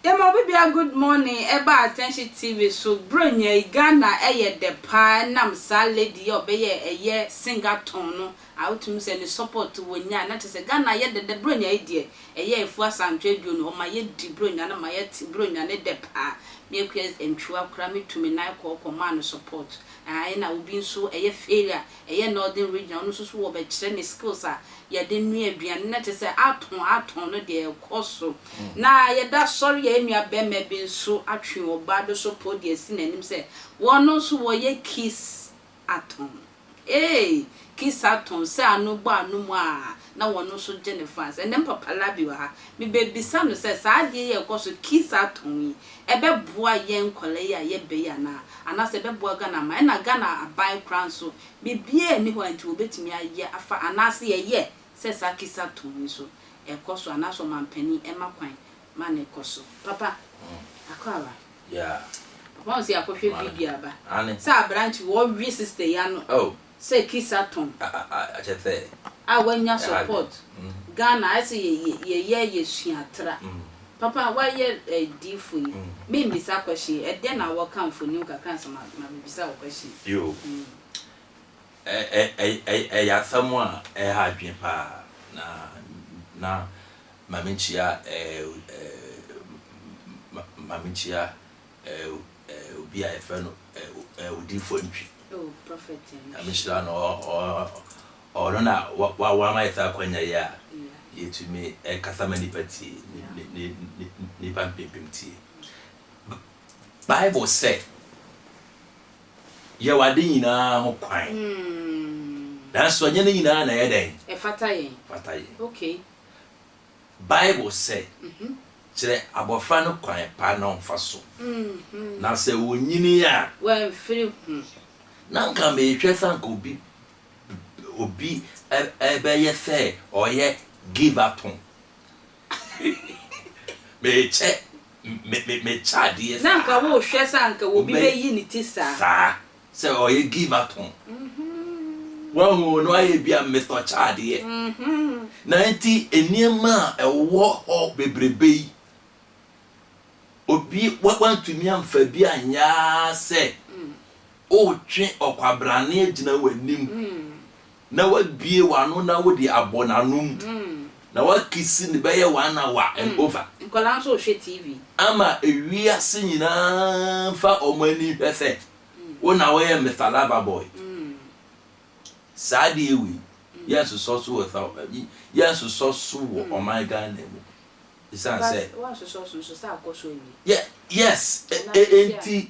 Yɛma obi bia good morning ɛba attention TV so bro nyɛi Ghana ɛyɛ dɛ paa ɛnam saa lady yɛ ɔbɛyɛ ɛyɛ singer tone no a wotumi sɛ ne support wonya na kyerɛ sɛ Ghana ayɛ dɛdɛ Buronya yi deɛ ɛyɛ afuo asantwe aduo no ɔma yɛdi Buronya no ma yɛte Buronya no dɛ paa me Akua Antwiwa koraa me tu me nan kɔɔ kɔ maa no support aah ɛna obi nso ɛyɛ Failure ɛyɛ Northern Region ɔno nso so wɔ bɛkyerɛ ne skills a yɛde noa aduane na kyerɛ sɛ atɔn atɔn no deɛ ɛkɔ so na yɛda asɔre yɛn nua bɛma bi nso atwe ɔbaa bi nso pow de asi n'anim sɛ wɔn nso wɔyɛ Kiss atom. Ee, kisa atom sɛ ano bɔ ano mu a na wɔn nso gye no France. Ɛnnɛ mpo Papa Labi wɔ ha. Mebebisa no sɛ, saa adeɛ yi a ɛkɔ so, kisa atom yi, ɛbɛboa yɛn nkwadaa yi a yɛba yi anaa? Anaasɛ ɛbɛboa Ghana aman? Ɛna Ghana aban koraa nso, biribiara nni hɔ a nti wɔbɛtumi ayɛ afa, anaasɛ yɛyɛ sɛ saa kisa atom yi nso ɛkɔ so anaasɛ ɔmampanin ma kwan ma no kɔ so. Papa, akɔ aba. Papa ɔn sɛ akɔ hwɛ video aba. Sɛ abrante wɔ we sister yi ano sɛ kiss atɔn. A wa nya support. Ghana ayɛ sɛ yɛ yɛ yɛ sua tra. Papa wa yɛ diifo yi. Me mbisa question yi, ɛdɛn na wɔ ka mfonim kakra ansa ma me bisa wo question yi. Ɛ-ɛ-ɛ-ɛ-ɛ-ɛ-ɛ ɛyɛ asɛm a ɛha adwene paa na na Maame Nkyia ɛ-ɛ-ɛ-ɛ-Maame Nkyia ɛ-ɛ-ɛ-obi a yɛfrɛ no ɛ-ɛ-odiifoɔ Ntwi. Oh, Prophet Ntwi. Nyame nhyira no, ɔ-ɔ-ɔ-ɔno na wa-wa-wama yɛ saa akwanya yi a yɛtumi ɛkasa ma nnipa tie, ni-ni-ni-ni-nnipa mpempem tie. Bible sɛ. Yɛ w'ade nyinaa ho kwan. Nanso ɛnyɛ ne nyinaa na ɛyɛ dɛn? Ɛfata yɛn. Ɛfata yɛn. Okay. Bible sɛ, Kyerɛ abɔfra no kwan pa na ɔmfa so, na sɛ ɔnyini a. Wamfiri ho. Na anka mehwɛ sɛ anka obi obi bɛyɛ sɛ ɔyɛ give up ho. Mekyɛ me me me kyɛ adeɛ saa. Na anka wo hwɛ sɛ anka obi bɛ yi ne ti saa. Saa sɛ ɔyɛ gii ma tɔn. Wahu no ayɛ bi a Mister ɔkyɛ adeɛ. Na nti nneɛma a ɛwɔ hɔ bebrebe yi obi wa wantumi anfa bi anyɛ ara sɛ wotwe ɔkwabrane agyina w'anim Na w'abue w'ano na wode abɔ n'anom Na w'akisi no bɛyɛ one hour and over. Nkwadaa nso rehwɛ TV. Ama ewiase nyinaa nfa wɔn ani nhwɛ sɛ wo na woyɛ Mister Lover Boy. Saa adeɛ wei yɛnsosɔ so wɔ South Ayi yɛnsosɔ so wɔ ɔman Ghana mu esiane sɛ. But woansosɔ so nso sɛ akɔ so awie. Yɛ yes e e enti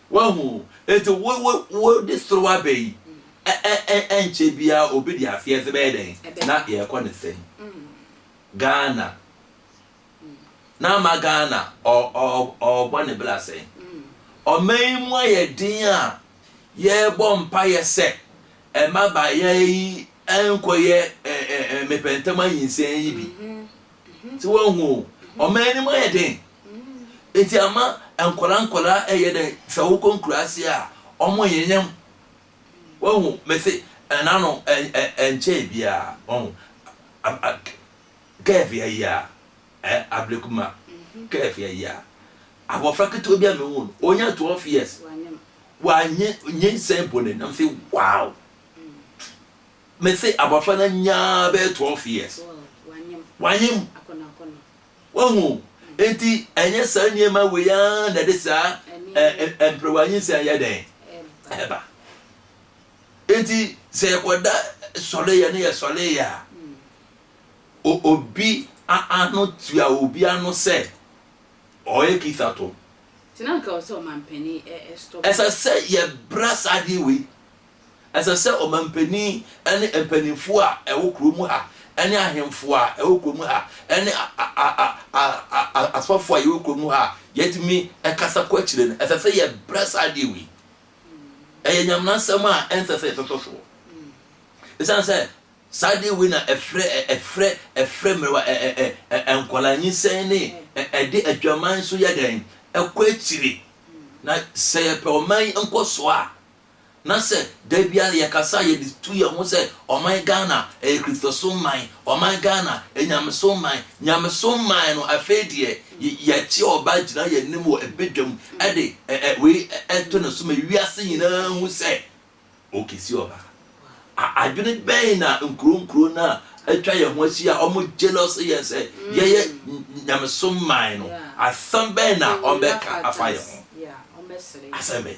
Wahu? Enti wo, wo, wode serew aba yi, ɛ, ɛ, ɛ, ɛnkyɛ biara obi de afiase bɛyɛ dɛn? Na yɛrekɔ ne sɛn? Ghana. Na ama Ghana, ɔ, ɔ, ɔrebɔ ne bra sɛn? Ɔman yi mu ayɛ den a, yɛrebɔ mpaeɛ sɛ, ɛmma abaayaa yi nkɔyɛ, ɛ, ɛ, ɛ, mepɛntɛm anyinsɛn yi bi. Sɛ woahu o, ɔman no mu ayɛ den. Eti ama nkwadaa nkwadaa ɛyɛ dɛ sɛ wokɔ nkuraase a ɔmo nyenyam. Wahu mese ɛnano ɛ ɛ ɛnkyɛɛ biaa wahu a a kɛɛfi ayi a ɛ ablikuma kɛɛfi ayi a abɔfra ketewa bi a mehu no onya 12 years wanye nyinsɛn bɔ ne nam se wow. Mese abɔfra no anyaa bɛyɛ twelve years. Wanyem. Wahu? Enti ɛnyɛ saa nneɛma wei ara na ɛde saa mperewa nyinsɛn yɛ dɛn? Ɛba. Enti sɛ yɛkɔda sɔleeɛ ne yɛ sɔleeɛ a, obi ano tua obi ano sɛ ɔyɛ kithatom. Ɛsɛ sɛ yɛbra saa adeɛ wei. Ɛsɛ sɛ ɔmampanin ne mpanimfoɔ a ɛwɔ kuro mu ha ne ahemfo a ɛwɔ kuro mu ha ne asɔfo a yɛwɔ kuro mu ha a yɛtumi kasa kɔ akyire no, ɛsɛ sɛ yɛbrɛ saa adeɛ wei. Ɛyɛ nyaminasɛm a ɛnsɛ sɛ yɛtoto soɔ. Ɛsiane sɛ saa adeɛ wei na ɛfrɛ ɛfrɛ ɛfrɛ mmerɛwa nkwadaa nyinsɛn ne ɛde adwaman so yɛ dɛn ɛkɔ akyire. Na sɛ yɛpɛ ɔman yi nkɔsoɔ a, na sɛ da biara yɛkasa a yɛde tu yɛn ho sɛ ɔman Ghana ɛyɛ Kristosom man, ɔman Ghana ɛyɛ Nyamesom man, Nyamesom man no afei deɛ yɛkye ɔba gyina yɛn anim wɔ badwam de wei to ne so ma wiase nyinaa hu sɛ ɔkesi ɔba. Adwene bɛn na nkuro nkuro no a atwa yɛn ho ahyia a wɔn jealous yɛn sɛ yɛyɛ Nyamesom man no, asɛm bɛn na wɔbɛka afa yɛn ho? Asɛm bɛn?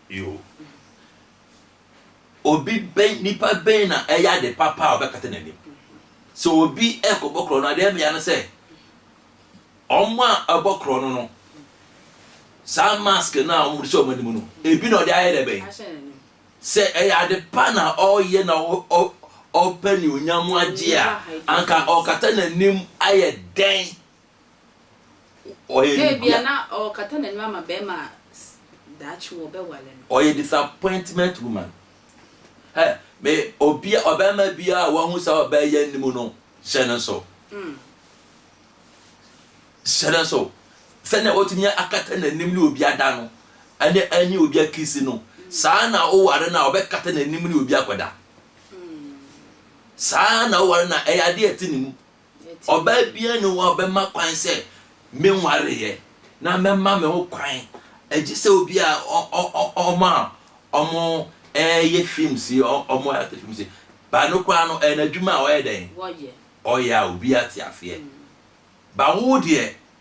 Yoh. Obi bɛn, nipa bɛn na ɛyɛ ade papa a ɔbɛkata n'anim? Sɛ obi rekɔbɔ korɔno a, deɛ ɛbea no sɛ, wɔn a ɛbɔ korɔno no, saa mask no a wɔde hyɛ wɔn anim no, ebi na ɔde ayɛ dɛ bɛn? Sɛ ɛyɛ ade pa na ɔreyɛ na ɔpɛ ne onyam agye a, anka ɔkata n'anim ayɛ dɛn Ɔyɛ ne Ebia bia. na ɔrekata n'anim ama barima a s daakye wɔbɛware no. Ɔyɛ disappointment woman. Hɛ, me, obia, ɔbarima biara a wahu saa ɔbaa yi anim no, hyɛ no nsow. Mm. Hyɛ no nsow. Sɛnea watumi akata n'anim ne obi ada no, ɛne ɛne obi akisi no, saa ara na woware no a, ɔbɛkata n'anim ne obi akɔda. Mm. Saa ara na woware no a, ɛyɛ ade a ɛte ne mu. Ɔbaa biara nni hɔ a ɔbɛma kwan sɛ menwareeɛ na mɛma me ho kwan agye sɛ obi a ɔmo a ɔmo ɛyɛ films yi ɔmo ate films yi ba no koraa no ɛyɛ n'adwuma a ɔyɛ dɛn ɔyɛ a obi ate afeɛ ba wo deɛ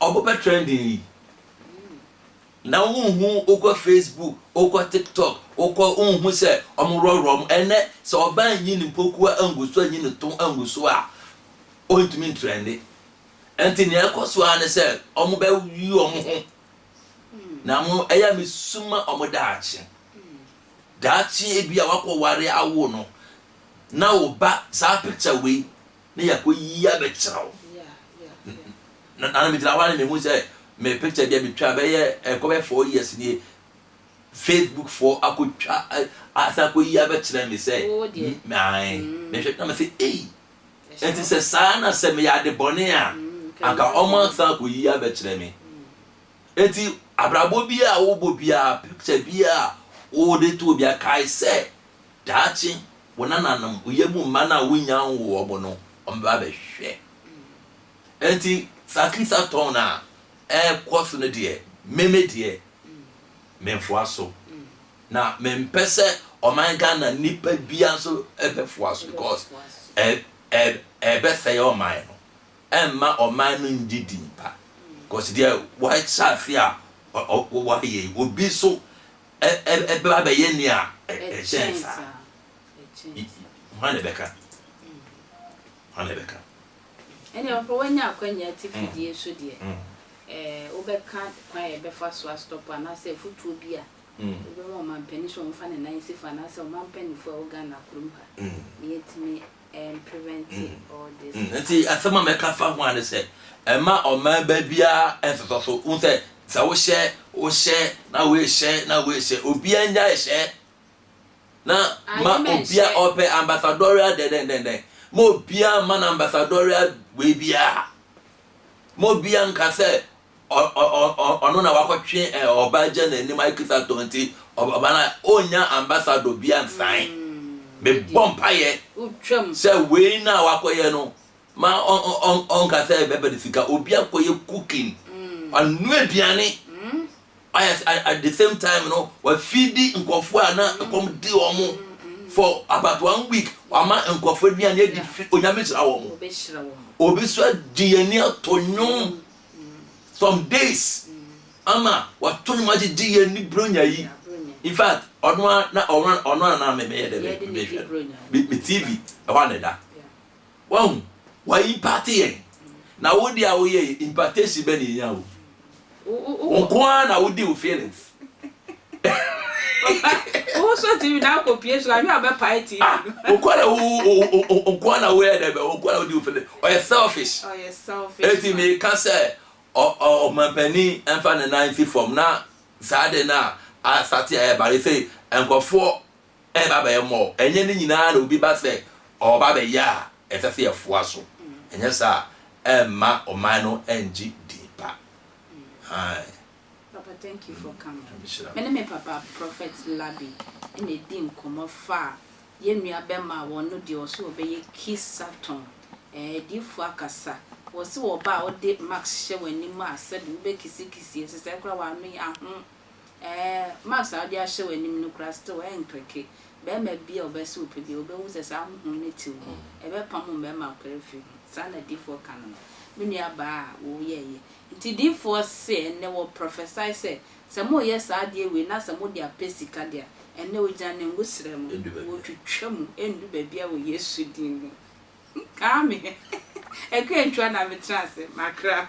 Ɔbo bɛ trending yi na wo nhu wo kɔ Facebook wo kɔ tiktok wo kɔ wo nhu sɛ ɔmo worɔworɔ ɔmo ɛnɛ sɛ ɔbaa nyi ne mpokua angu so anyi ne to angu so a ɔntumi ntrɛnde ɛnti nea ɛkɔ so ara ne sɛ ɔmo bɛ yi ɔmo ho na mo ɛyɛ me suma ɔmo daakye daakye ebi a wakɔ ware awo no na wo ba saa picture wei na yɛakɔyi abɛkyerɛ wo. Na na megyina hɔ a na mehu sɛ me picture deɛ metwa bɛyɛ ɛkɔ bɛyɛ four years nie facebook foɔ akɔtwa asan akɔyi abɛkyerɛ me sɛ ae mehwɛ na mesɛ ei ɛnti sɛ saa na sɛ meyɛ ade bɔne a anka ɔma asan akɔyi abɛkyerɛ me ɛnti abrabɔ bi a wobɔ biara picture bi a wode to obi akae sɛ Daakye, wo nananom, wo yamu mma no a wonnya nwoo wɔn no, wɔbɛba abɛhwɛ. Enti saa krisatɔn no a ɛrekɔ so no deɛ, me me deɛ, memfoa so. Na mempɛ sɛ ɔman Ghana nnipa biara nso bɛfoa so because ɛ ɛ ɛbɛsɛe ɔman no. Ɛmma ɔman no ngye din pa. Because deɛ wɔahyɛ ase a ɔ ɔ wɔayɛ yi, obi nso Ɛbɛba abɛyɛ nea ɛkyɛn saa. Hwan na ɛbɛka? Hwan na ɛbɛka? Ɛnna mpo woanya akwanya ati fidie so deɛ, wobɛka kwan a yɛbɛfa so astɔpo anaasɛ afotuo bi a wobɛma ɔmampanin sɛ ɔmfa ne nan nsi fa anaasɛ ɔmampanimfoɔ a ɛwɔ Ghana kurom ha na yɛatumi Nti asɛm a mɛka fa ho a ne sɛ ɛma ɔmaa ba biara nsesɔ so hu sɛ sɛ wohyɛ wohyɛ na woehyɛ na woehyɛ obiara nya ɛhyɛ na ma obia ɔpɛ ambassadorial dɛdɛndɛndɛn ma obia ma no ambassadorial wei biara ma obia nka sɛ ɔno na wakɔtwe ɔbaa gya n'anim ayɛ kristatɔ nti ɔbaa no ɔnya ambassador bi ansan mebɔ mpaeɛ sɛ wei no a wakɔyɛ no ma ɔnka sɛ bɛbɛ de sika obi akɔyɛ cooking ɔno aduane at the same time no wafidi nkɔfoɔ a na ɛkɔm di wɔn for about one week wama nkɔfoɔ aduane adi fi onyame hyira wɔn obi so agye yɛn ani ato nnwom some days ama wato nwom agyegye yɛ ne bronya yi in fact ɔno a na ɔno ɔno a na mɛmɛyɛ dɛ mɛhwɛ me me tv ɛhɔ a na ɛda wɔn wɔn impate yɛn na wodi a woyɛ impartation bɛ na enya o wɔn ko ara na wodi wo feelings Papa, wo so TV na akɔ pie so ahwɛ a ɔbɛpae TV ah, no. Wo kɔ na wo nko na wo yɛ dɛ bɛ wo kɔ na wo di wo fili. Ɔyɛ selfish. Ɔyɛ selfish. Eti mi ka sɛ ɔmampanin ɛnfa ne nan si fam na saa de na asate a ɛbare sɛ nkɔfoɔ ɛba bɛyɛ mɔ ɛnyɛ ne nyinaa na obi ba sɛ ɔba bɛyɛ a ɛsɛ sɛ yɛfoa so ɛnyɛ saa ɛmma ɔman no ɛngye din pa. Ae. Papa thank you for coming me ne me papa prophet Labi na edi nkɔmɔ faa yɛn nua bɛma a wɔ no deɛ ɔse ɔbɛyɛ kisa tɔn ɛɛ adiifoɔ akasa wɔse wɔ ba a wode max hyɛ w'anim a sɛbi wobɛ kisi kisi ɛsɛ sɛ kora w'ano yɛ aho ɛɛ max a wode ahyɛ w'anim no kora still ɛnkreke bɛɛma bia ɔbɛse wopɛ bia wobɛhu sɛ saa hohom no te wo mu ɛbɛpamo mɛɛma akora firi ho saa na adiifoɔ ka no no me nua baa a wo yɛɛyɛ Nti diyifoɔ se ɛnnɛ wɔ prophesy sɛ, sɛ moyɛ saa adeɛ wei na sɛ mode apɛ sika de a, ɛnnɛ ogya no ngu serɛ mu, wɔtwitwa mu, ɛndu baabiara wɔ Yesu din mu. Aame. Ɛkɔ antwa na me tra ase, makra.